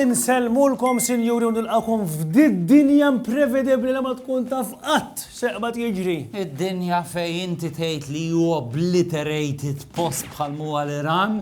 Insellmulkom sinjuri u nilqakom f'did dinja imprevedibbli li ma tkun taf qatt seqbad jiġri. Id-dinja fejn inti tgħid li hu obliterated post bħal mhuwa l-Iran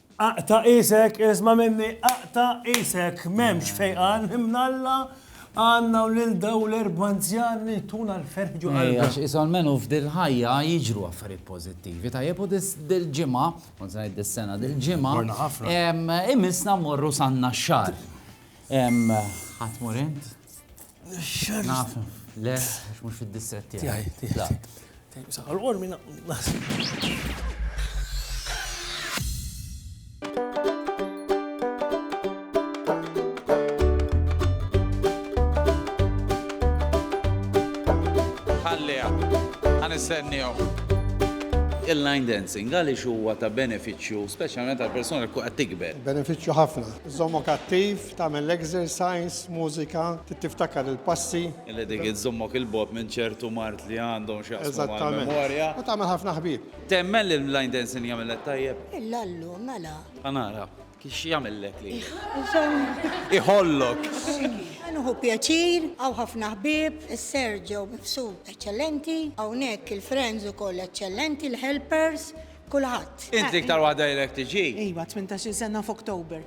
Aqta' qisek, isma' minni, aqta' qisek, m'hemmx fejqan mnalla għandna u lil dawn l-erba' anzjan li jtuna l-ferħ ġo qalbna. Ejja, għax isom menu f'dil-ħajja jiġru affarijiet pożittivi, tajjeb u dil-ġimgħa, kont se ngħid dis-sena, dil-ġimgħa. Morna ħafna. Imissna mmorru San Naxxar. Ħa tmur int? Naf, le, għax mhux fid-distret tiegħi. Tiegħi, tiegħi. nistenniju. Il-line dancing għaliex huwa ta' benefiċċju, speċjalment għal persuna li qed tikber. Benefiċċju ħafna. Żommok attiv, Tagħmel exercise, mużika, trid tiftakar il-passi. Li dik iżżommok 'il bogħod minn ċertu mard li għandhom x'jaqsmu mal-memorja. Eżattament. U tagħmel ħafna ħbieb. Temmen li l-line dancing jagħmillek tajjeb? Illallu, mela. Ħa nara. X'jagħmillek li. Iżomm. Iħollok. Ħa nieħu pjaċir, hawn ħafna ħbieb, is-Serġo mifsud eċċellenti, hawnhekk il-friends ukoll eċċellenti, il-helpers, Kulħadd. Int l-iktar waħda li lek tiġi. Iva, tmintax-il sena f'October.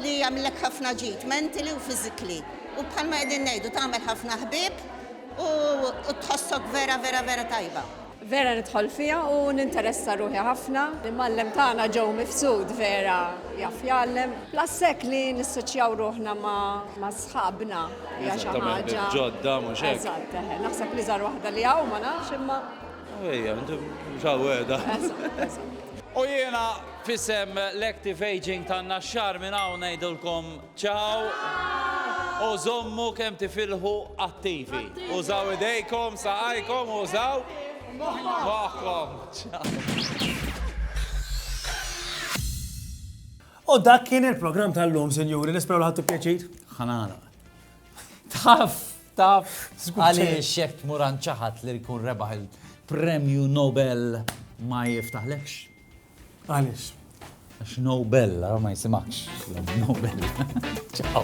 Li jagħmlilek ħafna ġid, mentally u physically. U bħalma qegħdin ngħidu, tagħmel ħafna ħbieb u tħossok vera vera vera tajba. Vera nidħol fiha u ninteressa ruħi ħafna. L-imgħallem tagħna Joe Mifsud vera jaf jgħallem. Plus hekk li nissoċjaw ruħna ma' sħabna hija xi ħaġa. Eżattament, ġodda mhux hekk? Eżatt, eħe. Naħseb li żgħar waħda li hawn ma nafx imma. Ejja, mġawweda. U jiena fissem l-Active Aging ta' Naxxar minn hawn ngħidulkom ċaw u żommu kemm tifilħu attivi. Użaw idejkom, saqajkom, użaw moħħkom. U dak kien il-programm tal-lum, sinjuri, nisperaw l-ħattu pjaċit. Ħanara. Taf, taf, għaliex xek tmur ċaħat li jkun rebaħ il-premju Nobel ma jiftaħlekx? Għaliex. Għax Nobel, ma jisimakx. Nobel. Ciao.